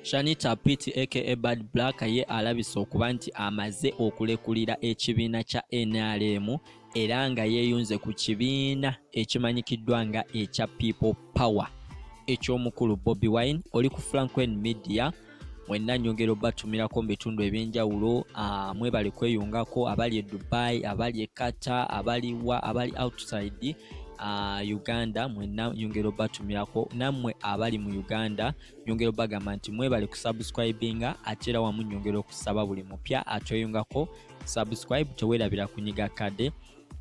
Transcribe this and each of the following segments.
Shanita Piti aka Bad Black ye alabise okuba nti amaze okulekulira ekibiina kya NRM era nga yeeyunze ku kibiina ekimanyikiddwa nga ekya People Power eky'omukulu Bobi Wine oli ku Franklin Media mwenna nyongera obatumirako mu bitundu ebyenjawulo ah, mwebale kweyungako abali e Dubai abali e Qatar abali wa abali outside uh, uganda mwena nyongera obatumirako namwe abali mu uganda nyongera obagamba nti mwebale kusubscribinga ate era wamu nyongera okusaba buli mupya atweyungako subscribe tewerabira kunyiga kade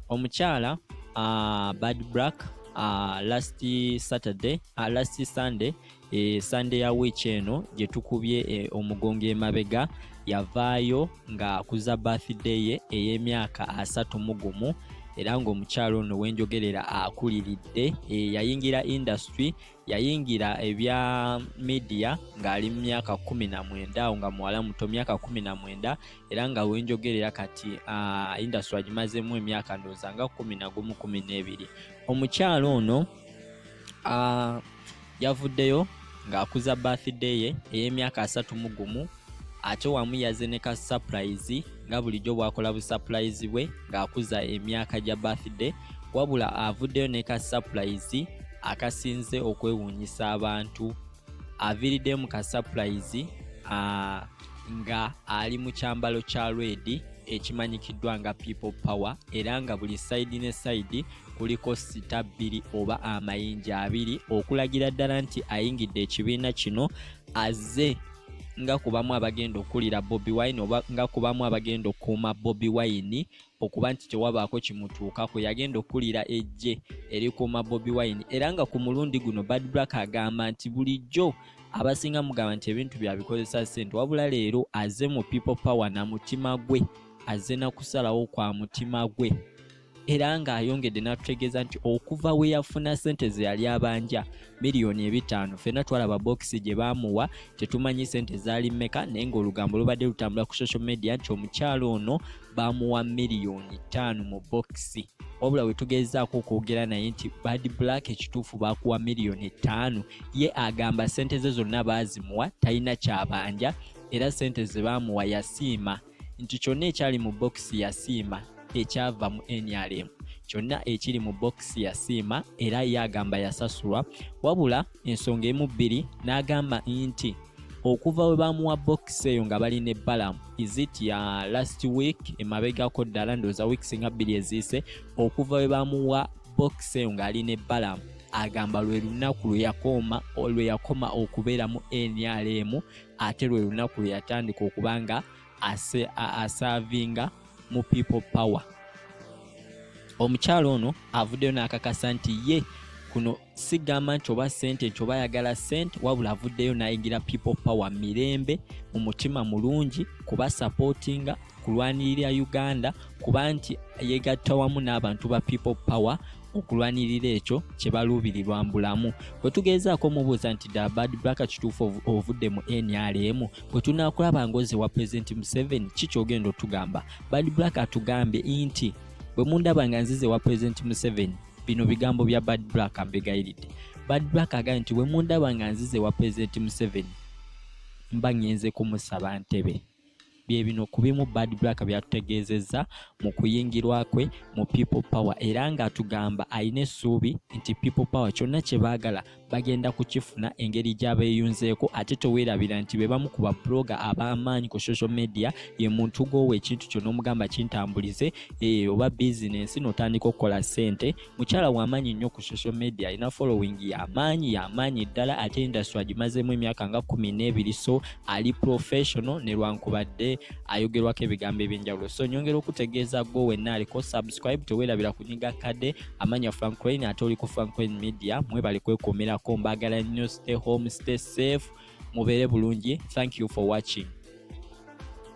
omukyala uh, bad black uh, last saturday uh, last sunday e, sande ya wiiki eno gye tukubye e, omugongo emabega yavaayo nga kuza birthday ye ey'emyaka asatu mu gumu era ng'omukyalo ono wenjogerera akuliridde e, yayingira industry yayingira ebya media ng'ali mu myaka kumi na mwenda awo nga muwala muto myaka kumi na mwenda era nga wenjogerera kati uh, industry agimazemu emyaka ndooza nga kumi na gumu kumi n'ebiri omukyalo ono Uh, yavuddeyo ng'akuza birthday ye ey'emyaka asatu mu gumu ate wamu yaze ne ka surprise nga bulijjo bwakola bu surprise bwe ng'akuza emyaka gya birthday wabula avuddeyo ne ka surprise akasinze okwewuunyisa abantu aviriddemu ka surprise uh, nga ali mu kyambalo kya redi ekimanyikiddwa nga people power era nga buli sayidi ne sayidi kuliko sita bbiri oba amayinja abiri okulagira ddala nti ayingidde ekibiina kino azze nga kubamu abagenda okukulira bobi wine oba nga kubamu abagenda okukuuma bobi wine okuba nti tewabaako kimutuukako yagenda okukulira ejje erikuuma bobi wine era nga ku mulundi guno bad black agamba nti bulijjo abasinga mugamba nti ebintu byabikozesa sente wabula leero aze mu people power na mutima gwe aze nakusalawo kwa mutima gwe era ng'ayongedde n'atutegeeza nti okuva we yafuna ssente ze yali abanja miliyoni ebitaano fena twalaba bokisi gye baamuwa tetumanyi ssente zaali mmeka naye ng'olugambo lubadde lutambula ku social media nti omukyalo ono baamuwa miliyoni ttaano mu bokisi wabula we tugezaako okwogera naye nti bad black ekituufu baakuwa miliyoni ttaano ye agamba sente ze zonna baazimuwa talina kyabanja era sente ze baamuwa yasiima nti kyonna ekyali mu bokisi yasiima ekyava mu nrm kyonna ekiri mu bokisi yasiima era ye agamba yasasulwa wabula ensonga emu bbiri n'agamba nti okuva we baamuwa bokisi eyo nga bali ne balamu izit ya last week emabegako ddala ndowooza weeks nga bbiri eziise okuva we baamuwa bokisi eyo ng'ali ne balamu agamba lwe lunaku lwe yakoma lwe yakoma okubeeramu nrm ate lwe lunaku lwe yatandika okuba nga asaavinga mu people power omukyalo ono avuddeyo n'akakasa nti ye kuno sigamba nti oba sente nti oba ayagala sente wabula avuddeyo nayingira people power mirembe mu mutima mulungi kuba supportinga kulwanirira uganda kuba nti yegatta wamu n'abantu ba people power okulwanirira ekyo kye baluubirirwa mbulamu bwe tugeezaako omubuuza nti da bad black kituufu ovudde mu nrm bwe tunaakulaba ngozi wa pulezidenti museveni ki kyogenda otugamba bad black atugambye nti bwe mundaba nga nzize wa pulezidenti museveni bino bigambo bya bad black ambegayiridde bad black agambye nti wemundaba nga nzize wa pulezidenti museveni mba ngenze kumusaba ntebe bye bino ku bimu bad black byatutegeezezza mu kuyingirwa kwe mu people power era ng'atugamba alina essuubi nti people power kyonna kye baagala bagenda kukifuna engeri gyabeeyunzeeko ate teweerabira nti be bamu ku babuloga ab'amaanyi ku social media ye muntu gwowa ekintu kyo n'omugamba kintambulize eh, oba bizinensi n'otandika okukola ssente mukyala w'amaanyi nnyo ku social media alina following y'amaanyi y'amaanyi ddala ate industry agimazeemu emyaka nga kumi n'ebiri so ali professional ne lwankubadde ayogerwako ebigambo eby'enjawulo so nyongera okutegeeza gwo wenna aliko subscribe teweerabira kunyiga kade amanya Frank Crane ate oli ku Frank Crane Media mwebale kwekuumirako mbagala nnyo stay home stay safe mubeere bulungi thank you for watching